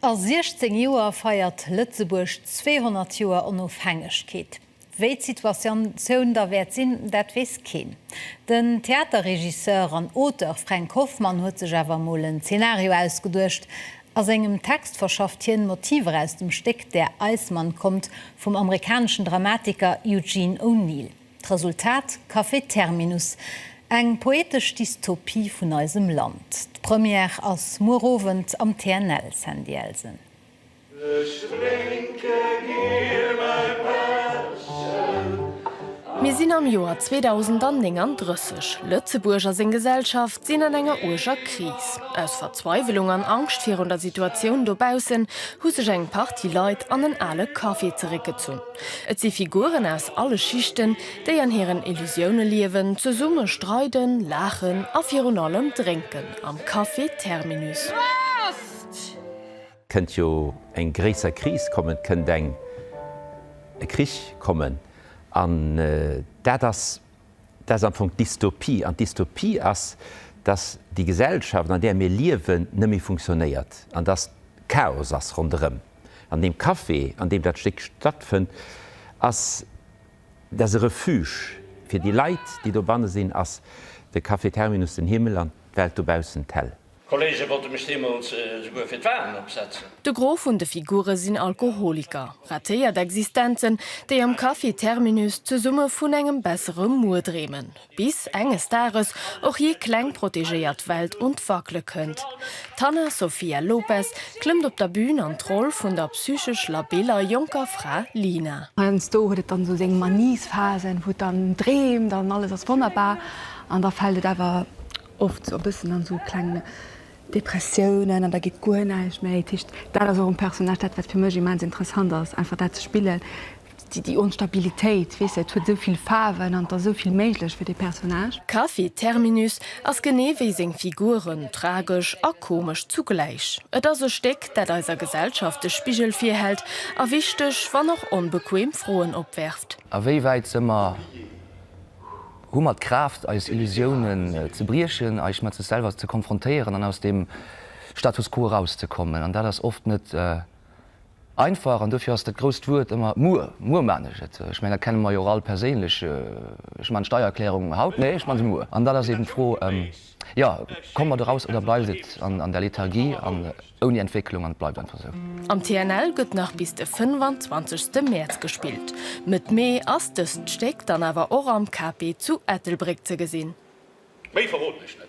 A 16 Joer feiert Lëtzebuerg 200 Joer Onofhängegkeet. Wéi d'Situatioun da wäert sinn, dat weess keen. Den Theaterregisseur an Auteur Fränk Hoffmann huet sech awer emol en Zenario ausgeduecht. A sengem Text verschafft hien Motiver aus dem Stéck Der Eismann kommt vum amerikaneschen Dramatiker Eugene O'Neill. D'Resultat, Café Terminus, eng poetesch Dystopie vun eisem Land. D'Première ass muer Owend am TNL, Sandy Elsen. Ech drénke gär mäi Pässchen. Mir sinn am Joer 2039. Lëtzebuerg a seng Gesellschaft sinn an enger uerger Kris. Aus Verzweiwelung an Angscht virun der Situatioun dobaussen hu sech eng Partie Leit an en ale Café zeréckgezunn. Et si Figuren aus alle Schichten, déi an hiren Illusioune liewen, zesumme streiden, laachen a virun allem drénken am Café Terminus. Kënnt jo eng gréisser Kris kommen, et kënnt eng e Krich kommen. An dat ass dat ass am Fong d'Dystopie. An d'Dystopie ass, datt déi Gesellschaft, an där mir liewen, net méi funktionéiert an datt Chaos ass ronderëm. An deem Café, an deem dat Stéck stattfënnt, ass dat e Refuge fir déi Leit, déi dobanne sinn, ass de Café Terminus den Himmel an d'Welt dobaussen d'Hell. D'Kolleege wollte mech deemools esouguer fir d'Walen opsetzen. De Gros vun de Figure sinn Alkoholiker, ratéiert Existenzen, déi am Café Terminus zesumme vun engem bessere Muer dreemen. Bis enges Dages och jee kleng protegéiert Welt un d'Wackele kënnt. D'Hanna Sofia Lopes klëmmt op der Bün an d'Roll vun der psychesch labiller jonker Fra Lina. Heiansdo huet et dann esou seng Maniesphasen, wou et dann dreemt an alles ass wonnerbar. An da fält et awer oft esou e bëssen an esou kleng Depressiounen an da geet guer näischt méi. Dat heescht, dat ass och um Personnage dat, wat fir mech immens interessant ass, einfach dat ze spillen, Déi Onstabilitéit, weess de, et huet esou vill Faarwen an et ass esou vill méiglech fir dee Personnage. D'Café Terminus ass genee wéi seng Figuren, tragesch a komesch zugläich. Et ass e Stéck, dat eiser Gesellschaft de Spigel virhält a wichteg, wann och onbequem Froen opwerft. A wéi wäit se mer? Hu mer d'Kraaft, eis Illusiounen ze briechen, eis mat sech selwer ze konfrontéieren an aus dem Status quo erauszekommen? An dat ass oft net Einfach, an dofir ass dat grousst Wuert ëmmer muer, muer man ech et. Ech mengen, dat kenne mer jo och all perséinlech. Ech man d'Steiererklärung haut, nee, ech man se muer. An dann ass eben d'Fro, jo, komme mer do raus oder bleift et an der Lethargie an ouni Entwécklung an et bleift einfach esou? Am TNL gëtt nach bis de 25 Mäerz gespillt. Mëtt Mee ass dëst Stéck dann awer och am KP zu Ettelbréck ze gesinn. Méi verroden ech net.